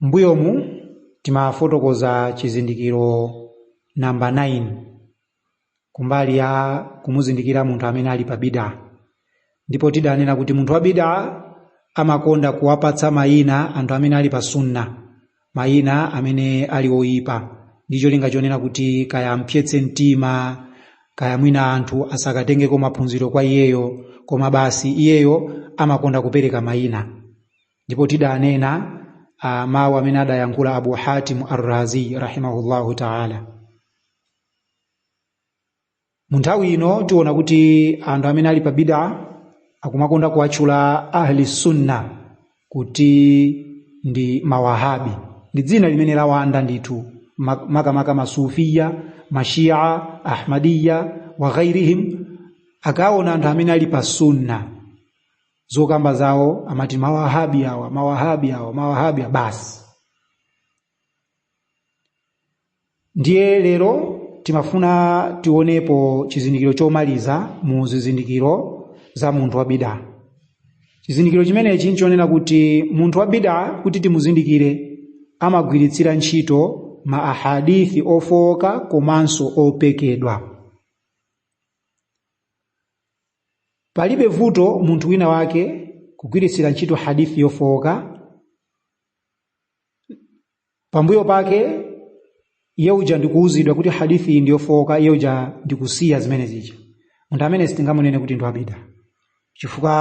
M'mbuyomu timafotokoza chizindikiro namba 9 kumbali ya kumuzindikira munthu amene ali pa bidaa ndipo tidanena kuti munthu wa bidaa amakonda kuwapatsa mayina anthu amene ali pa sunna mayina amene ali oyipa ndi cholinga chonena kuti kaya ampsetse mtima kaya mwina anthu asakatengeko maphunziro kwa iyeyo koma basi iyeyo amakonda kupereka mayina ndipo tidanena mawu amene adayankhula abu hatim arrazi rahimahullahu taala mu nthawi ino tiona kuti anthu amene ali pa bida akumakonda kuwatchula ahli sunna kuti ndi mawahabi ndi dzina limene lawanda ndithu ma- makamaka masufiya mashia ahmadiya wa ghairihim akaona anthu amene ali pa sunna zokamba zawo amati mawahabi awa mawahabi awa mawahabi awa basi ndiye lero timafuna tionepo chizindikiro chomaliza mu zizindikiro za munthu wa bida chizindikiro chimenechi nchonena kuti munthu wa bida kuti timuzindikire amagwiritsira ntchito ma ahadithi ofowoka komanso opekedwa palibe vuto munthu wina wake kugwiritsira ntchito hadithi yofowoka pambuyo pake iye uja ndikuwuzidwa kuti hadithi iyi ndiyofowoka iye uja ndikusiya zimene zija munthu amene sitingamunene kuti ndi wabida chifukwa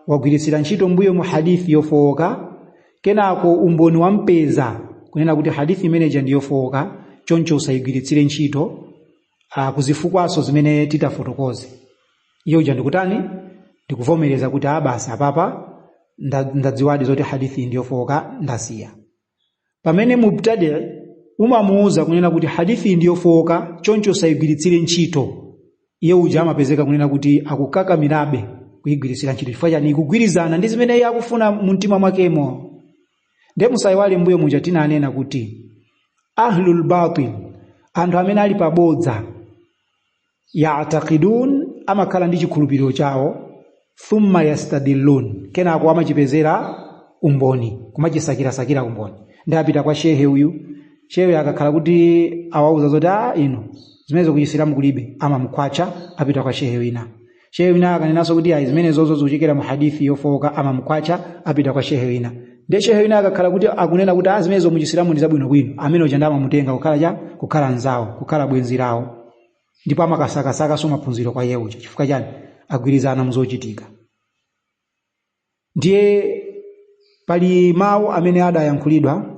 wagwiritsira ntchito mbuyomu hadithi yofowoka kenako umboni wampeza kunena kuti hadithi imeneja ndi yofowoka choncho usayigwiritsire ntchito ah, kuzifukwaso zimene titafotokoze iye uja ndikutani ndikuvomereza kuti a basi apapa nda- ndadziwadi zoti hadithi ndiyofowoka ndasiya pamene mubtadi umamuuza kunena kuti hadithi ndiyofowoka choncho usayigwiritsire ntchito iye uja amapezeka kunena kuti akukakamirabe kuyigwiritsira ntchito chifukwa chani ikugwirizana ndi zimene iye akufuna mu mtima mwakemo nde musayiwale mbuyo muja tinanena kuti ahlul batil anthu amene ali pabodza yaatakidun amakhala ndi chikhulupiriro chawo thumma yastadillun kenako amachipezera umboni kumachisakirasakira umboni ndiye apita kwa shehe uyu shehe akakhala kuti awauza zoti a ino zimenezo kuchisilamu kulibe amamukhwacha apita kwa shehe wina shehe wina akanenanso kuti ayi zimenezozo zikuchokera mu hadithi yofowoka amamukhwacha apita kwa shehe wina ndiye shehe wina akakhala kuti akunena kuti zimenezozo mu chisilamu ndi zabwinobwino amene uja amamutenga kukhala cha kukhala nzawo kukhala bwenzi lawo ndipo amakasakasakanso maphunziro kwa iye uja chifukwa chani agwirizana muzochitika ndiye pali mawu amene adayankhulidwa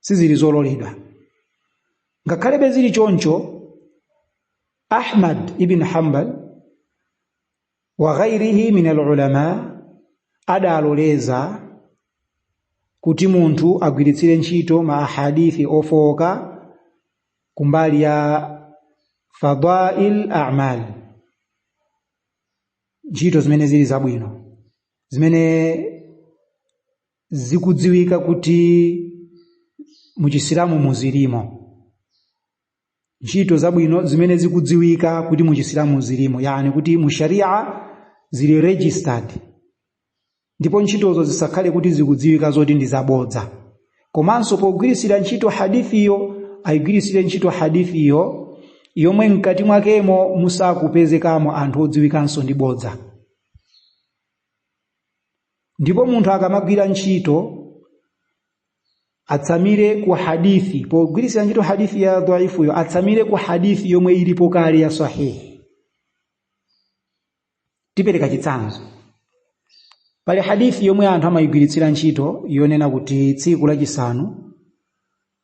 sizili zololedwa ngakhalebe zili choncho ahmad ibn hanbal wa ghairihi min alulama adaloleza kuti munthu agwiritsire ntchito ma ahadithi ofowoka kumbali ya fadail amal ntchito zimene zili zabwino zimene zikudziwika kuti mu chisilamu muzilimo ntchito zabwino zimene zikudziwika kuti mu chisilamu muzilimo yani kuti mu sharia zili registered ndipo ntchitozo zisakhale kuti zikudziwika zoti ndi zabodza komanso pogwiritsira ntchito hadithiyo ayigwiritsire ntchito hadithiyo yomwe mkati mwakemo musakupezekamo anthu odziwikanso ndi bodza ndipo munthu akamagwira ntchito atsamire ku hadithi pogwiritsira ntchito hadithi ya dhaifuyo atsamire ku hadithi yomwe ilipo kale ya sahihi tipereka chitsanzo pali hadithi yomwe anthu amayigwiritsira ntchito yonena kuti tsiku lachisanu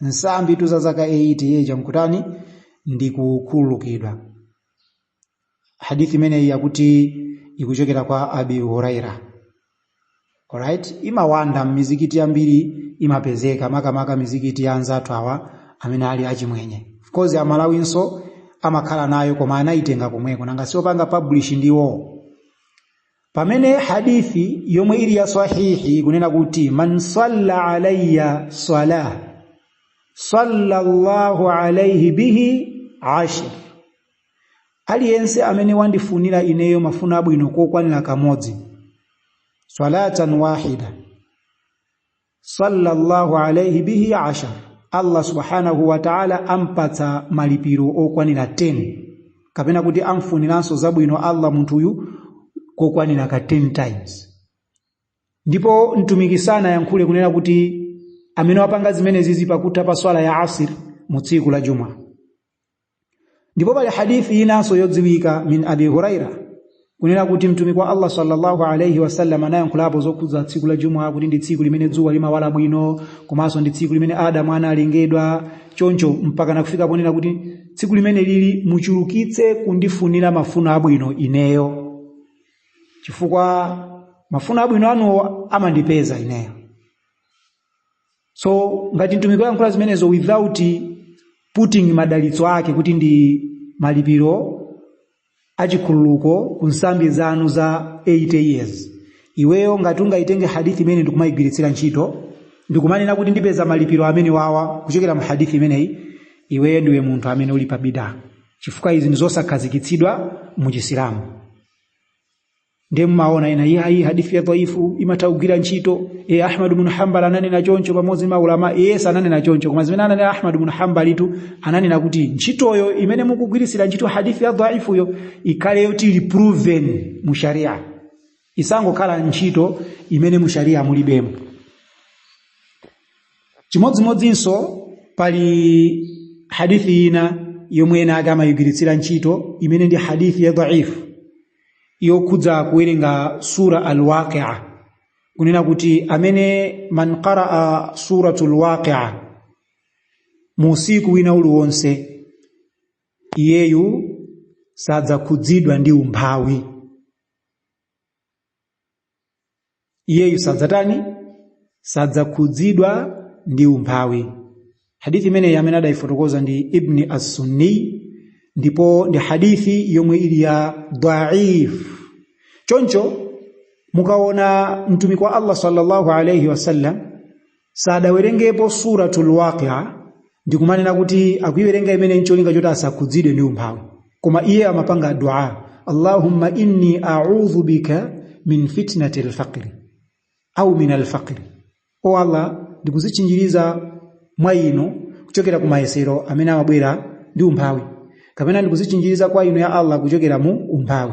nsambi tu za zaka 80 iye uja nkutani ndikukhululukidwa hadithi imeneyi yakuti ikuchokera kwa abi huraira alright imawanda m'mizikiti yambiri imapezeka makamaka mizikiti ya anzathu awa amene ali achimwenye of course amalawinso amakhala nayo koma anayitenga komweko nanga siopanga publish ndiwo pamene hadithi yomwe ili ya sahihi ikunena kuti man salla alayya salah salla Allahu alayhi bihi ashar aliyense amene wandifunira ineyo mafuno abwino kokwanira kamodzi salatan wahida sallallahu alayhi bihi ashar Allah subhanahu wa ta'ala ampatsa malipiro okwanira 10 kapena kuti amfuniranso zabwino Allah munthuyu kokwanira ka 10 times ndipo mtumiki sanayankhule kunena kuti amene wapanga zimenezizi pakutha pa swala ya asir mu tsiku la juma ndipo pali hadithi inanso yodziwika min abi huraira kunena kuti mtumiki wa allah sallallahu alaihi wasallam anayankhulapo zokhudza tsiku la jumu'a kuti ndi tsiku limene dzuwa limawala bwino komanso ndi tsiku limene adamu analengedwa choncho mpakana kufika ponena kuti tsiku limeneli muchulukitse kundifunira mafuno abwino ineyo chifukwa mafuno abwino anuwo amandipeza ineyo so ngati mtumiki wayankhula zimenezo without putting madalitso ake kuti ndi malipiro achikhululuko ku nsambi zanu za 80 years iweyo ngati ungayitenge hadithi imeneyi ndikumayigwiritsira ntchito ndikumanena kuti ndipeza malipiro amenewawa kuchokera mu hadithi imeneyi iweyo ndiwe munthu amene uli pa bidaa chifukwa izi ndi zosakhazikitsidwa mu chisilamu ndiye mumaona ena iye ayi hadithi ya dhaifu imatha kugwira ntchito e ahmad ibn hanbal ananena choncho pamodzi ndi maulama yes ananena choncho koma zimene ananena ahmad ibn hanbal tu ananena kuti ntchitoyo imene mukugwiritsira ntchito hadithi ya dhaifuyo ikhale yoti ili proven mu sharia isangokhala ntchito imene mu sharia mulibemo chimodzimodzinso pali hadithi ina yomwe ena ake amayigwiritsira ntchito imene ndi hadithi ya dhaifu yokhudza kuwerenga sura alwaqia kunena kuti amene man qaraa suratu lwaqia mu usiku wina uliwonse iyeyu sadzakhudzidwa ndi umphawi iyeyu sadzatani sadzakhudzidwa ndi umphawi hadithi imeneyi amene adayifotokoza ndi ibni assunni ndipo ndi hadithi yomwe ili ya dhaif choncho mukaona mtumiki wa allah sallallahu alaihi wasallam sadawerengepo suratul waqia ndikumanena kuti akuiwerenga imeneyi ncholinga choti asakhudzidwe ndi umphawi koma iye amapanga dua allahumma inni audhu bika min fitnati lfaqri au min alfaqri o allah ndikuzitchinjiriza mwa inu kuchokera ku mayesero amene amabwera ndi umphawi kapena ndikuzitchinjiriza kwa inu ya allah kuchokera mu umphawi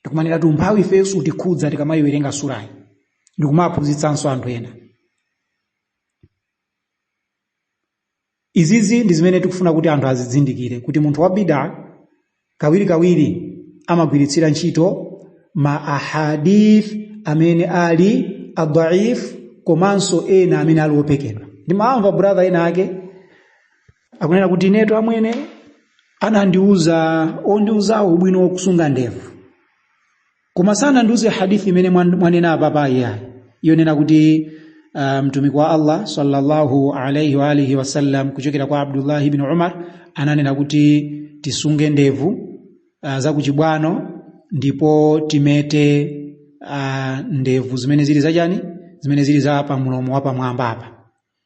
ndikumanena kuti umphawi ifeyo sutikhudza tikamayiwerenga surayi ndikumaphunzitsanso anthu ena izizi ndi zimene tikufuna kuti anthu azizindikire kuti munthu wa bida kawirikawiri amagwiritsira ntchito ma ahadith amene ali adaif komanso ena amene ali opekedwa ndimamva brother ena ake akunena kuti inetu amwene anandiuza ondiuzawo ubwino wokusunga ndevu koma sanandiuze hadithi imene mwan- mwanena apa iyo yonena kuti uh, mtumiki wa allah sallallahu alaihi wa alihi wasallam kuchokera kwa abdullahi ibn umar ananena kuti tisunge ndevu uh, zakuchibwano ndipo timete uh, ndevu zimene zili zachani zimene zili za pamulomo wapamwamba apa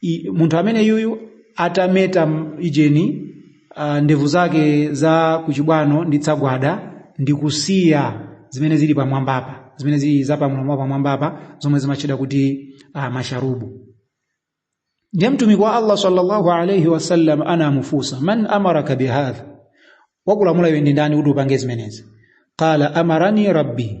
I- munthu amene yuyu atameta m- ijeni uh, ndevu zake za kuchibwano ndi tsagwada ndi kusiya zimene zili pamwambapa zimene zili za pamlomo pamwambapa zomwe zimatchedwa kuti uh, masharubu ndiye mtumiki wa allah sallallahu alaihi wasallam anamufunsa man amaraka bihadha wakulamula iwe ndi ndani kuti upange zimenezi qala amarani rabbi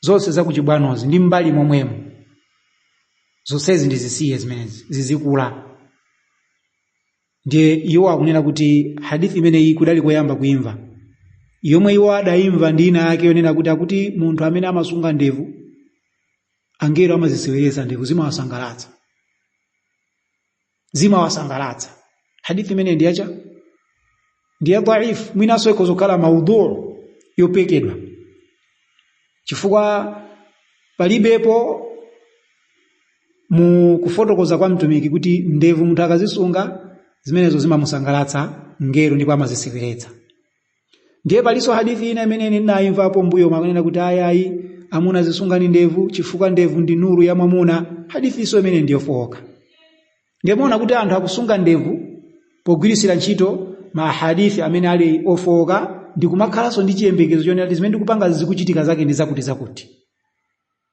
zonse zakuchibwanozi ndi m'mbali momwemo zonsezi ndizisiye zimenezi zizikula ndiye iwo akunena kuti hadithi imeneyi kudali koyamba kuimva yomwe iwo adayimva ndi ina yake yonena kuti akuti munthu amene amasunga ndevu angelo amaziseweretsa ndevu zimawasangalatsa zimawasangalatsa hadithi imene ndi yacha ndi ya dhaif mwinaso ikhoza kukhala maudhu yopekedwa chifukwa palibepo mu kufotokoza kwa mtumiki kuti ndevu munthu akazisunga zimenezo zimamusangalatsa mngelo ndipo amaziseweretsa ndiye palinso hadithi ina imene ine ndinayimvapo mbuyomu akunena kuti ayayi amuna zisungani ndevu chifukwa ndevu ndi nuru ya mwamuna hadithinso imene ndiyofoka ndiye muona kuti anthu akusunga ndevu pogwiritsira ntchito mahadithi amene ali ofoka ndikumakhalanso ndi chiyembekezo chonena kuti zimene ndikupanga zikuchitika zake ndi zakuti zakuti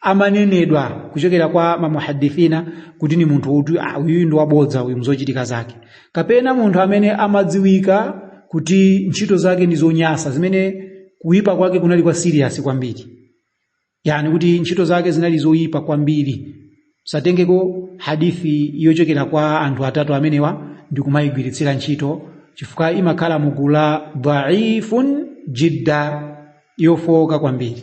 amanenedwa kuchokera kwa mamuhadithina kuti ni munthu uti ah, uyu ndi wabodza uyu mzochitika zake kapena munthu amene amadziwika kuti ntchito zake ndi zonyasa zimene kuyipa kwake kunali kwa serious kwambiri yani kuti ntchito zake zinali zoyipa kwambiri satengeko hadithi yochokera kwa anthu atatu amenewa ndi kumayigwiritsira ntchito chifukwa imakhala mugulu la dhaifun jidda yofoka kwambiri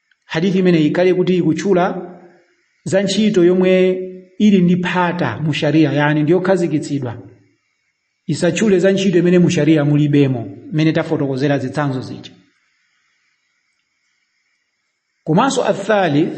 hadithi imeneyi ikhale kuti ikutchula za ntchito yomwe ili ndi phata mu sharia yani ndi yokhazikitsidwa isatchule za ntchito imene mu sharia mulibemo imene tafotokozera zitsanzo zija komanso athalith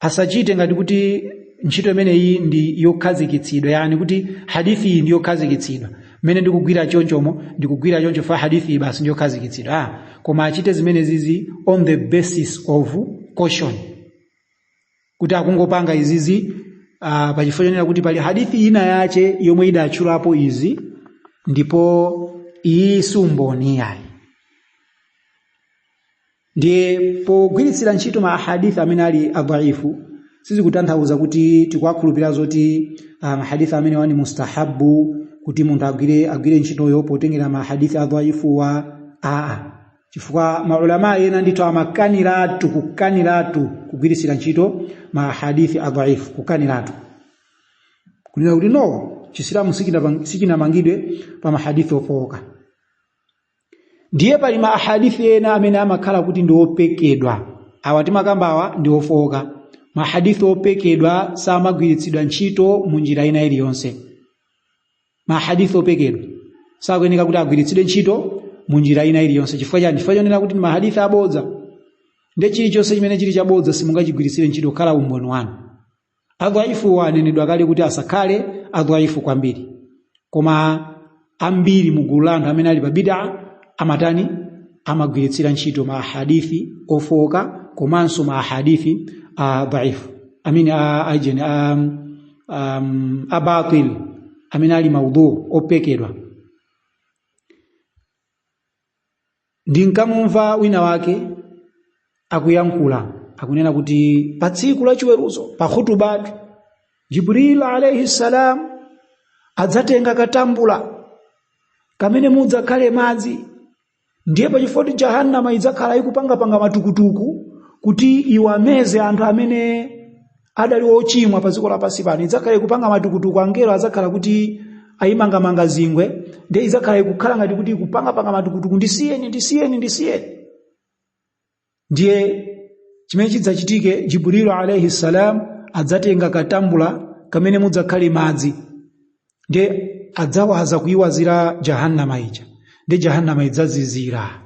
asachite ngati kuti ntchito imeneyi ndi yokhazikitsidwa yani kuti hadithi iyi ndi yokhazikitsidwa mmene ndikugwira chonchomo ndikugwira choncho fa hadithi iyi basi ndi yokhazikitsidwa ah, koma achite zimenezizi on the basis of caution kuti akungopanga izizi uh, pachifukwa chonena kuti pali hadithi ina yache yomwe idatchulapo izi ndipo iyi si umboni yayi ndiye pogwiritsira ntchito ma ahadith amene ali adhaifu sizikutanthauza kuti tikuwakhulupirira zoti ah, mahadith amenewa ndi mustahabu kuti munthu agwire agwire ntchitoyo potengera mahadith adhaifuwa aa chifukwa maulama ena ndithu amakaniratu kukaniratu kugwiritsira ntchito mahadith adhaifu kukaniratu kunena kuti no chisilamu sichina- sichinamangidwe pa mahadith ofooka ndiye pali ma ahadithi ena amene amakhala kuti ndi opekedwa awa timakambawa ndi ofooka mahadithi opekedwa samagwiritsidwa ntchito mu njira ina iliyonse mahadithi opekedwa sakuyeneka kuti agwiritsidwe ntchito mu njira ina iliyonse chifukwa chani chifukwa chonena kuti mahadithi abodza ndi chilichonse chimene chili chabodza simungachigwiritsire ntchito kukhala umboni wanu Adhaifuwa anenedwa kale kuti asakhale adhaifu kwambiri. Koma ambiri mu gulu la anthu amene ali pa bid'ah amatani? Amagwiritsira ntchito ma hadithi ofooka komanso ma hadithi a dhaifu. Amene a ajeni a um, a batil amene ali maudhu opekedwa. ndinkamumva wina wake akuyankhula akunena kuti pa tsiku la chiweruzo pa khutubatu jibril alaihi salam adzatenga katambula kamene mudzakhale madzi ndiye pachifoti jahannama idzakhala ikupangapanga matukutuku kuti iwameze anthu amene adali ochimwa pa dziko lapansi pano idzakhala ikupanga matukutuku angelo adzakhala kuti ayimangamanga zingwe ndiye idzakhala ikukhala ngati kuti ikupangapanga matukutuku ndisiyeni ndisiyeni ndisiyeni ndiye chimene chidzachitike jibrilu alaihi salam adzatenga katambula kamene mudzakhale madzi ndiye adzawaza kuyiwazira jahannama ija ndiye jahannama idzazizira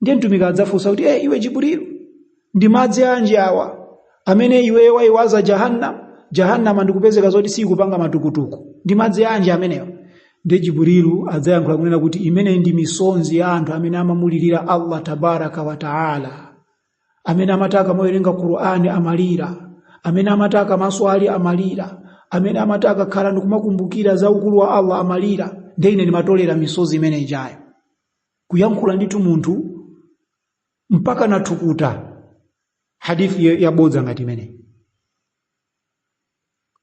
ndiye mtumiki adzafunsa kuti e iwe jibrilu ndi madzi anji awa amene iweyo wayiwaza jahannam jahannama ndikupezeka zoti sikupanga matukutuku ndi madzi anji amenewa ndiye jibrilu adzayankhula kunena kuti imeneyi ndi misonzi ya anthu amene amamulirira allah tabaraka wa taala amene amati akamawerenga qur'ani amalira amene amati akamaswali amalira amene amati akakhala ndikumakumbukira za ukulu wa allah amalira ndiye ine ndimatolera misozi imene ijayo kuyankhula ndithu munthu mpaka nathukuta hadithi ya- yabodza ngati imeneyi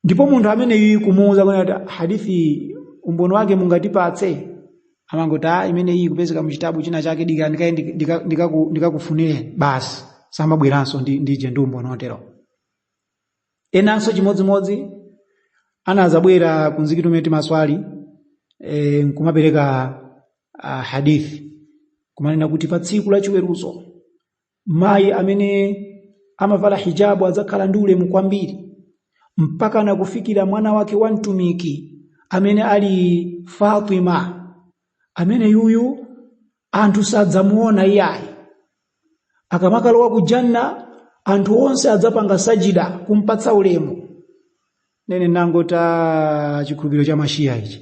ndipo munthu ameneyu kumuwuza kuti ati hadithi iyi, umboni wake mungatipatse amangoti a imeneyi kupezeka mu chitabu china chake dikira ndikaye ndika- ndika- ndikaku- ndikakufunire basi samabweranso ndi- ndije ndi umboni otero enanso chimodzimodzi anazabwera kumzikiti umene timaswali e, nkumapereka a hadith kumanena kuti pa tsiku la chiweruzo mayi amene amavala hijabu adzakhala ndi ulemu kwambiri mpaka nakufikira mwana wake wa mtumiki amene ali Fatima amene yuyu anthu sadzamuona iyayi akamakalowa ku janna anthu onse adzapanga sajida kumpatsa ulemu nene nangoti chikhulupiriro cha mashiya ichi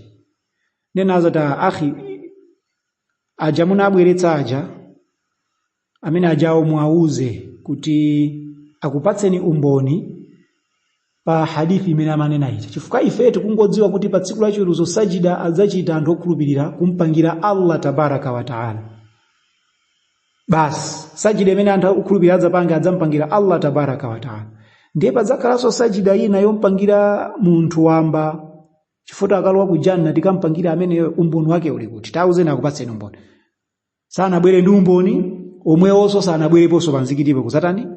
nene nazati "Ah, akhi aja munabweretsa aja amene ajawo muwauze kuti akupatseni umboni pa hadithi imene amanena ija chifukwa ife tikungodziwa kuti pa tsiku lachiweruzo sajida adzachita anthu okhulupirira kumpangira allah tabaraka wa taala basi sajida imene anthu okhulupirira adzapanga adzampangira allah tabaraka wa taala ndiye padzakhalanso sajida ina yompangira munthu wamba chifukwa akalowa ku janna tikampangira amene umboni wake uli kuti tauza akupatseni umboni sanabwere ndi umboni omwewonso sanabwereponso pamzikitipo kudzatani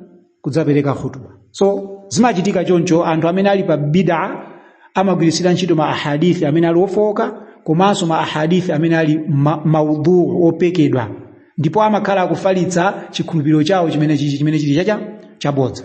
kudzapereka khutuba so zimachitika choncho anthu amene ali pa bida amagwiritsira ntchito ma ahadithi amene ali ofooka komanso ma ahadithi amene ali ma, maudhu opekedwa ndipo amakhala akufalitsa chikhulupiriro chawo chimene chichi chimene chili chacha chabodza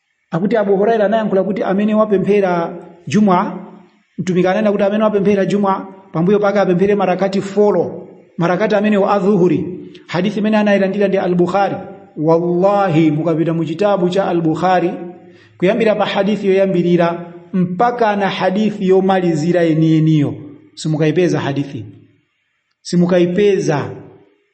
akuti abu huraira anayankhula kuti amene wapemphera juma mtumiki ananena kuti amene wapemphera juma pambuyo pake apemphere marakati folo marakati amenewo a dhuhuri hadithi imene anayilandira ndi al-bukhari wallahi mukapita mu chitabu cha al-bukhari kuyambira pa hadithi yoyambirira mpaka na hadithi yomalizira yeniyeniyo simukayipeza hadithi simukayipeza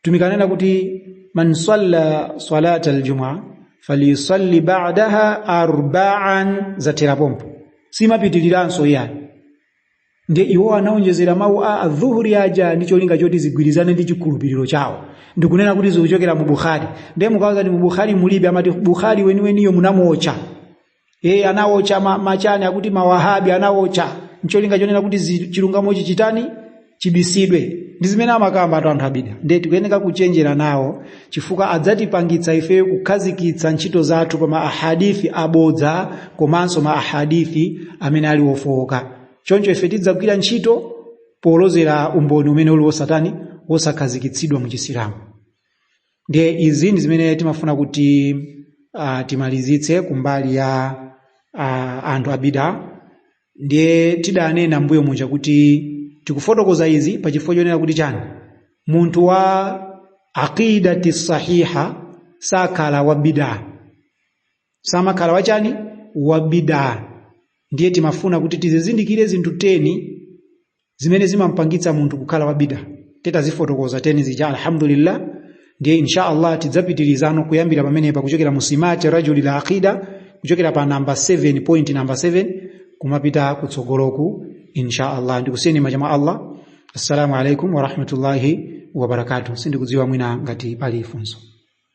mtumiki anena kuti man salla salata aljumua falyusalli ba'daha arba'an yathera pompo simapitiriranso iyayi ndiye iwo anaonjezera mawu a adhuhuri aja ndi cholinga choti zigwirizane ndi chikhulupiriro chawo ndikunena kuti zikuchokera mu bukhari ndiye mukawauza kuti mu bukhari mulibe amati bukhari weniweniyo munamuwotcha anawocha ma, machani akuti mawahabi anawocha ncholinga chonena kuti zi- chilungamochi chitani chibisidwe ndi zimene amakamba anthu a bidaa ndiye tikuyeneka kuchenjera nawo chifukwa adzatipangitsa ife kukhazikitsa ntchito zathu pa ma ahadithi abodza komanso ma ahadithi amene ali ofowoka choncho ife tidzagwira ntchito polozera umboni umene uli wosa tani wosakhazikitsidwa mu chisilamu ndiye izi ndi zimene timafuna kuti uh, timalizitse kumbali ya uh, anthu a bidaa ndiye tidanena mbuyo muja kuti tikufotokoza izi pa chifukwa chonena kuti chani munthu wa aqidati sahiha sakhala wa bidaa samakhala wachani wa bidaa ndiye timafuna kuti tizizindikire zinthu teni zimene zimampangitsa munthu kukhala wa bid'a tidazifotokoza teni zija alhamdulillah ndiye insha Allah tidzapitirizano kuyambira pamenepa kuchokera mu simati rajulil aqida kuchokera pa namba 7 point namba 7 kumapita kutsogoloku insha Allah ndikusiyeni m'manja mwa Allah assalamu alaikum wa rahmatullahi wa barakatuh sindikudziwa mwina ngati pali funso